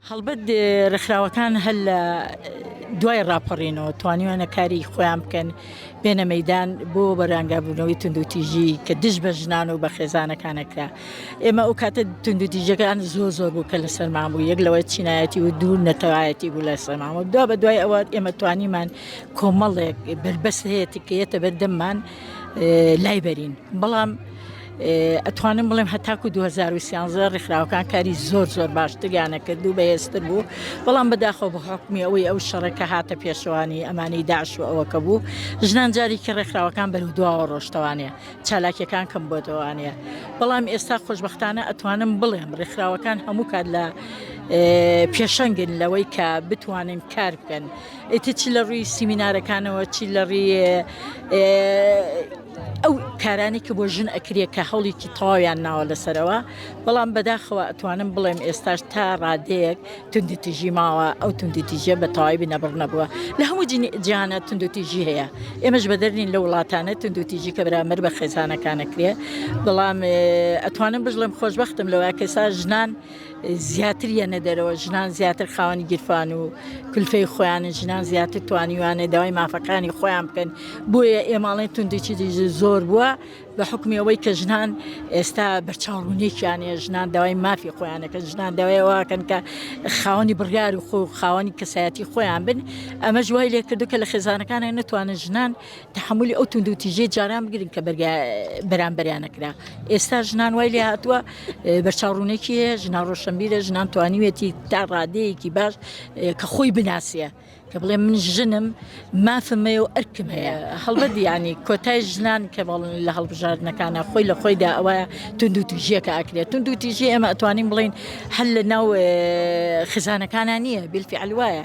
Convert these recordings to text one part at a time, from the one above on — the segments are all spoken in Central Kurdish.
هەڵبەت ڕێکخراوەکان هەر لە دوای ڕاپەڕینەوە توانیوانە کاری خۆیان بکەن بێنە مەدان بۆ بەرانگابوونەوەی تونندوتیژی کە دژ بە ژنان و بە خێزانەکانەکە ئێمە ئەو کاتە تونندوتیژەکان زۆر زۆر بوو کە لە سەرمان بوو یەک لەوەی چینایەتی و دوور نەتەوایەتی بوو لە سەماوە دو بە دوای ئەوە ئێمە توانیمان کۆمەڵێک بربەست هەیەتی کە یەتە بەردەممان لای بەرین بەڵام ئەتوانم بڵێم هەتاکو 2013 ڕێکخراوەکان کاری زۆر زۆر باشتریانە کرد و بەهێزتر بوو بەڵام بەداخۆ بە حکمی ئەوەی ئەو شەڕەکە هاتە پێشوانی ئەمانی داعش و ئەوەکە بوو ژنان جارێکی ڕێکخراوەکان بەرو دواوە ڕۆشتوانەیە چالاکیەکان کەم بۆتەوانەیە بەڵام ئێستا خۆشببختانە ئەتوانم بڵێم ڕێکخراوەکان هەموو کات لە پێشەنگن لەوەی کە بتوانن کار بکەن ئیتر چی لە ڕووی سیمینارەکانەوە چی لە ڕێ ئەو کارانەی کە بۆ ژن ئەکرێ کە هەوڵێکی تەواویان ناوە لەسەرەوە بەڵام بەداخەوە ئەتوانم بڵێم ئێستاش تا ڕادەیەک توندی تیژی ماوە ئەو توندی تیژە بە تەواوی بنەبڕ نەبووە لە هەموو جیانە توندو تیژی هەیە ئێمەش بەدەرنین لە وڵاتانە توندو تیژی کە برامەر بە خێزانەکانەکرێ بەڵام ئەتوانم بژڵم خۆشببختم لەوە کەسا ژنان زیاتر یەنە دەرەوە ژنان زیاتر خاوەنی گیرفان و کلفەی خۆیانە ژنان زیاتر توانیوانە داوای مافەکانی خۆیان بکەن بۆیە ئێماڵێن توندێکی زۆر بووە بە حکمی ئەوەی کە ژنان ئێستا بەرچاوڕونێکیانە ژنان داوای مافی خۆیانەکە ژنان داوایەوەکەن کە خاوەنی بڕیار و خۆ خاوەنی کەسایەتی خۆیان بن ئەمە ژوای لێکردو کە لە خێزانەکانە نتوانن ژنان تەحەمولی ئەو توندو تیژی جاران بگرن کە بەرگە بەرامبەریان نەکرا ئێستا ژنان وای لێ هاتووە بەرچاوڕوونێکی هەیە ژنا ڕۆشنبیرە ژنان توانیوێتی تا ڕادەیەکی باش کە خۆی بناسیە کە بڵێ من ژنم مافمەیە و ئەرکم هەیە هەڵبەت ینی کۆتای ژنان کە بەڵن لە هەڵبژاردنەکانە خۆی لە خۆیدا ئەوە توندو تیژیەکە ئەکرێت توندو تیژی ئێمە ئەتوانین بڵین هەل لە ناو خزانەکانە نییە بیلفی ئەلوایە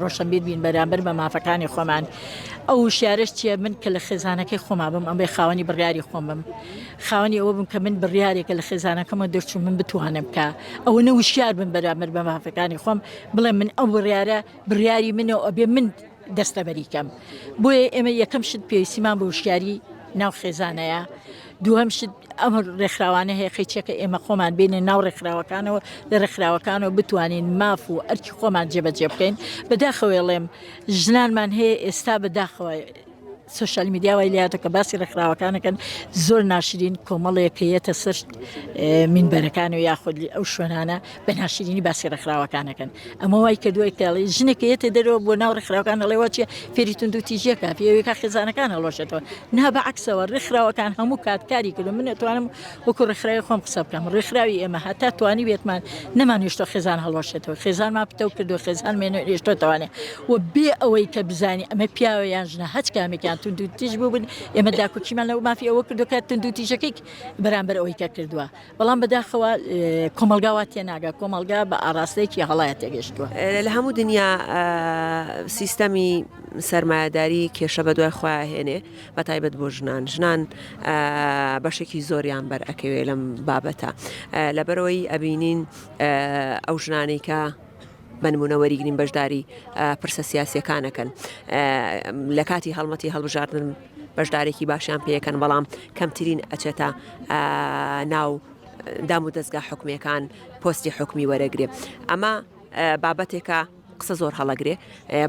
ڕۆشەنبیر بین بەرامبەر بە مافەکانی خۆمان ئەو وشارش چیە من کە لە خێزانەکەی خۆما بم ئەمێ خاوەنی بڕیاری خۆم بم خاوەنی ئەوە بم کە من بڕیارێکە لە خێزانەکەمە دەرچوو من بتوانم کە ئەوە نە وشار بم بەرامبەر بە مافەکانی خۆم بڵێ من ئەو بڕیارە بڕیاری منەوە ئەبێ من دەستەبەریکەم بۆیە ئێمە یەکەم شت پێویستیمان بە وشیاری ناو خێزانەیە دووهەم شت ئەم ڕێکخراوانە هەیە قەیچەکە ئێمە خۆمان بینە ناو ڕێکخراوەکانەوە لە ڕێکخراوەکانەوە بتوانین ماف و ئەرکی خۆمان جێبەجێ بکەین بەداخەوێڵێم ژنانمان هەیە ئێستا بەداخەوە سوشال میدیاوای لاتە کە باسی ڕێکخراوەکانەکەن زۆر ناشرین کۆمەڵێکەیەتە سەر منبەرەکان و یاخودلی ئەو شوێنانە بە ناشرینی باسی ڕێکخراوەکانەکەن ئەمە وای کە دوای کاڵی ژنێک یەتە دەرەوە بۆ ناو ڕێکخراوەکان لەڵێ وچە فێری تونند و تیژەکە پێوێکا خێزانەکان هەڵۆشێتەوە نا بە عکسەوە ڕێکخراوەکان هەموو کاتکاری کردو من توانم وەکو ڕێکخراوی خۆم قسە بکەم ڕێکخراوی ئێمە هەتا توانی بێتمان نەمانویشتە خێزان هەڵۆشێتەوە خێزانمان پتەو کردو خێزان مێنە ئێشتۆ توانێت و بێ ئەوەی کە بزانانی ئەمە پیاوە یان ژنە هەچ کامێکیان تونند و تیژ بووبن ئێمە داکوچیمان لەو مافی ئەوە کردو کە تونند و تیژەکەی بەرامبەر ئەوەی کە کردووە بەڵام بەداخەوە کۆمەلگا وا تێناگە کۆمەلگا بە ئاراستەیەکی هەڵایە تێگەشتووە لە هەموو دنیا سیستەمی سەرمایهداری کێشە بە دوای خۆیان هێنێ بە تایبەت بۆ ژنان ژنان بەشێکی زۆریان بەر ئەکەوێ لەم بابەتە لەبەرەوەی ئەبینین ئەو ژنانەی کە بنمونە وەریگرین بەشداری پرسە سیاسەکانەکەن لە کاتی هەڵمەتی هەڵبژاردن بەشدارێکی باشیان پێکەن بەڵام کەمترین ئەچێتە ناو دام و دەستگا حکومەکان پۆستی حکومی وەرەگرێ ئەمە بابەتێکە قسە زۆر هەڵەگرێ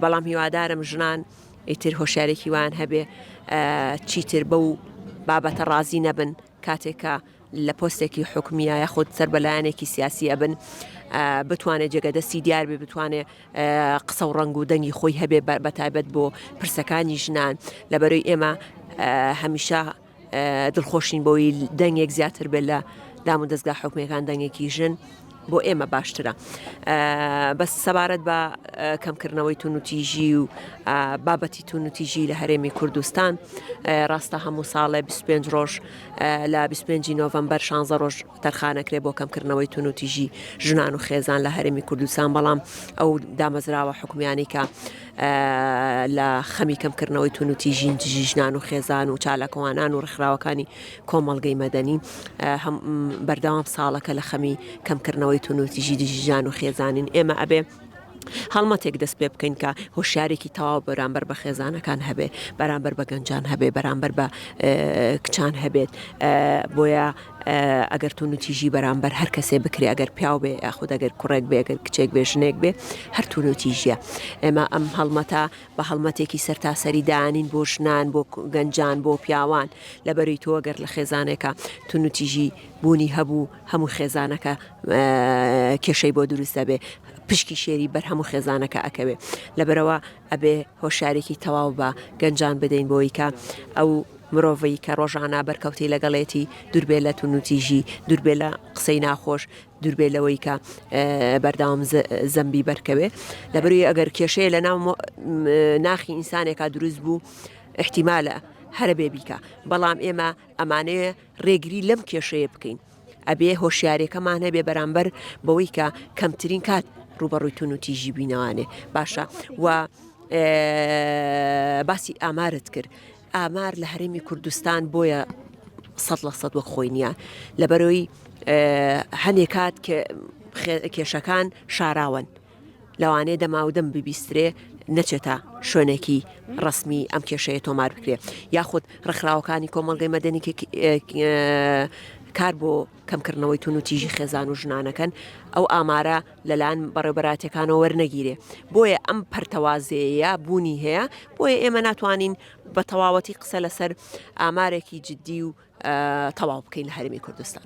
بەڵام هیوادارم ژنان ئیتر هۆشارێکی وان هەبێ چیتر بەو بابەتە ڕازی نەبن کاتێک کە لە پۆستێکی حکومیە یاخود سەر بەلایەنێکی سیاسی ئەبن بتوانێت جێگەدەستی دیار بێ بتوانێت قسە و ڕنگ و دەنگی خۆی هەبێ بەتایبەت بۆ پرسەکانی ژنان لەبەرەی ئێمە هەمیشە دڵخۆشین بۆی دەنگێک زیاتر بێت لە دام و دەستگا حکومەکان دەنگێکی ژن بۆ ئێمە باشترە بەس سەبارەت بە کەمکردنەوەی تونوتیژی و بابەتی تونوتیژی لە هەرێمی کوردستان ڕاستە هەموو ساڵێ 25 ڕۆژ لە 25 نۆڤمبەر 16 ڕۆژ تەرخانەکرێ بۆ کەمکردنەوەی تونوتیژی ژنان و خێزان لە هەرێمی کوردستان بەڵام ئەو دامەزراوە حکومیانی کە لە خەمی کەمکردنەوەی تونوتیژین دژی ژنان و خێزان و چالاکوانان و ڕخراوەکانی کۆمەڵگەی مەدەنی بەردەوام ساڵەکە لە خەمی کەمکردنەوەی توندوتیژی دژی ژان و خێزانین ئێمە ئەبێ هەڵمەتێک دەست پێ بکەین کە هۆشارێکی تەواو بەرامبەر بە خێزانەکان هەبێ بەرامبەر بە گەنجان هەبێ بەرامبەر بە کچان هەبێت بۆیە ئەگەر تون و تیژی بەرامبەر هەر کەسێ بکرێ ئەگەر پیاو بێ یاخود ئەگەر کوڕێک بێگەر کچێک بێژنێک بێ هەرتون و تیژە ئێمە ئەم هەڵمەتا بە هەڵمەتێکی سەرتاسەری دانین بۆ ژنان بۆ گەنجان بۆ پیاوان لەبەری تۆ گەر لە خێزانێکە تونوتیژی بوونی هەبوو هەموو خێزانەکە کێشەی بۆ دروست دەبێ پشکی شێری بەر هەموو خێزانەکە ئەکەوێ لەبەرەوە ئەبێ هۆشارێکی تەواو بە گەنجان بدەین بۆی کە ئەو مرۆڤی کە ڕۆژانە بەرکەوتی لەگەڵێتی دوربێ لە تونوتیژی دوربێ لە قسەی ناخۆش دوربێ لەوەی کە بەردەوام زەمبی بەرکەوێ لەبروی ئەگەر کێشەیە لە ناو ناخی ئینسانێکا دروست بوو احتیمالە هەرە بێ بیکە بەڵام ئێمە ئەمانەیە ڕێگری لەم کێشەیە بکەین ئەبێ هۆشیارێکەمان هەبێ بەرامبەر بەوەی کە کەمترین کات ڕوبەڕووی تون و تیژی بینەوانێ باشە و باسی ئامارت کرد ئامار لە هەرێمی کوردستان بۆیە سەد لە سەد وەک خۆی نییە لەبەرەوەی هەنێ کات کێشەکان شاراون لەوانەیە دەماودەم ببیسترێ نەچێتە شوێنێکی ڕسمی ئەم کێشەیە تۆمار بکرێت یاخود ڕخراوەکانی کۆمەڵگەی مەدەنی کار بۆ کەمکردنەوەی توندوتیژی خێزان و ژنانەکەن، ئەو ئامارە لەلایەن بەڕێوبەرایەتیەکانەوە وەرنەگیرێ، بۆیە ئەم پەرتەوازەیەیە بوونی هەیە، بۆیە ئێمە ناتوانین بە تەواوەتی قسە لەسەر ئامارێکی جدی و تەواو بکەین لە هەرێمی کوردستان.